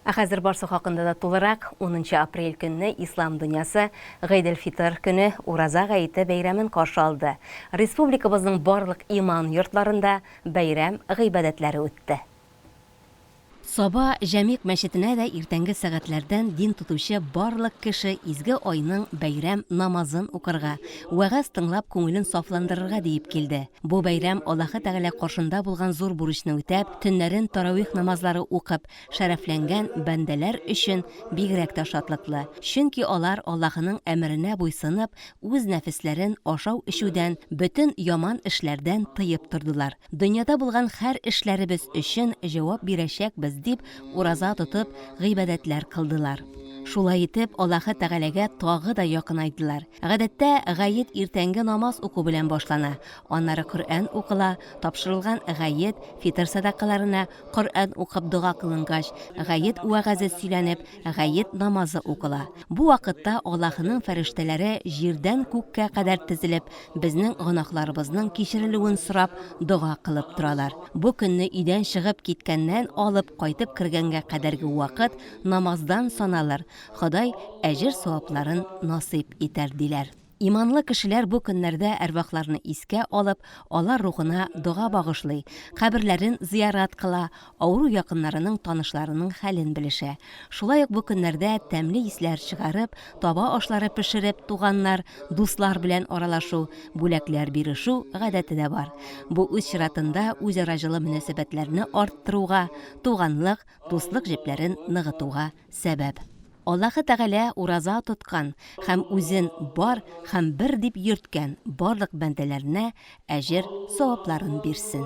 Ә хәзер барсы хакында да тулырак, унынчы апрель көнне ислам дөньясы Гыйд эль-Фитыр көне, Ураза гаете бәйрәмен каршы алды. Республикабызның барлык иман йортларында бәйрәм гыйбадәтләре үтте. Саба Җәмигъ мәчетенә дә иртәнге сәгатьләрдән дин тотучы барлык кеше изге айның бәйрәм намазын укырга, вәгазь тыңлап күңелен сафландырырга диеп килде. Бу бәйрәм Аллаһы Тәгалә каршында булган зур бурычны үтәп, төннәрен таравих намазлары укып, шәрәфләнгән бәндәләр өчен бигрәк тә шатлыклы, чөнки алар Аллаһының әмеренә буйсынып, үз нәфесләрен ашау-эчүдән, бөтен яман эшләрдән тыеп тордылар. Дөньяда булган хәр эшләребез өчен җавап бирәчәкбез, дип ураза тотып, гыйбадәтләр кылдылар. Шулай итеп, Аллаһы Тәгаләгә тагы да якынайдылар. Гадәттә, гает иртәнге намаз уку белән башлана, аннары Коръән укыла, тапшырылган гает, фитыр сәдакаларына, Коръән укып дога кылынгач, гает вәгазе сөйләнеп, гает намазы укыла. Бу вакытта Аллаһының фәрештәләре җирдән күккә кадәр тезелеп, Безнең гөнаһларыбызның кичерелүен сорап дога кылып торалар. Бу көнне өйдән чыгып киткәннән алып кайтып кергәнгә кадәрге вакыт намаздан саналыр, Ходай әҗер-савапларын насыйп итәр, диләр. Иманлы кешеләр бу көннәрдә әрвахларны искә алып, алар рухына дога багышлый, каберләрен зыярат кыла, авыру якыннарының, танышларының хәлен белешә. Шулай ук бу көннәрдә тәмле исләр чыгарып, таба ашлары пешереп, туганнар, дуслар белән аралашу, бүләкләр бирешү гадәте дә бар. Бу үз чиратында үзара җылы мөнәсәбәтләрне арттыруга, туганлык, дуслык җепләрен ныгытуга сәбәп. Аллаһы Тәгалә ураза тоткан һәм үзен бар һәм бер дип йөрткән барлык бәндәләренә әҗер-савапларын бирсен!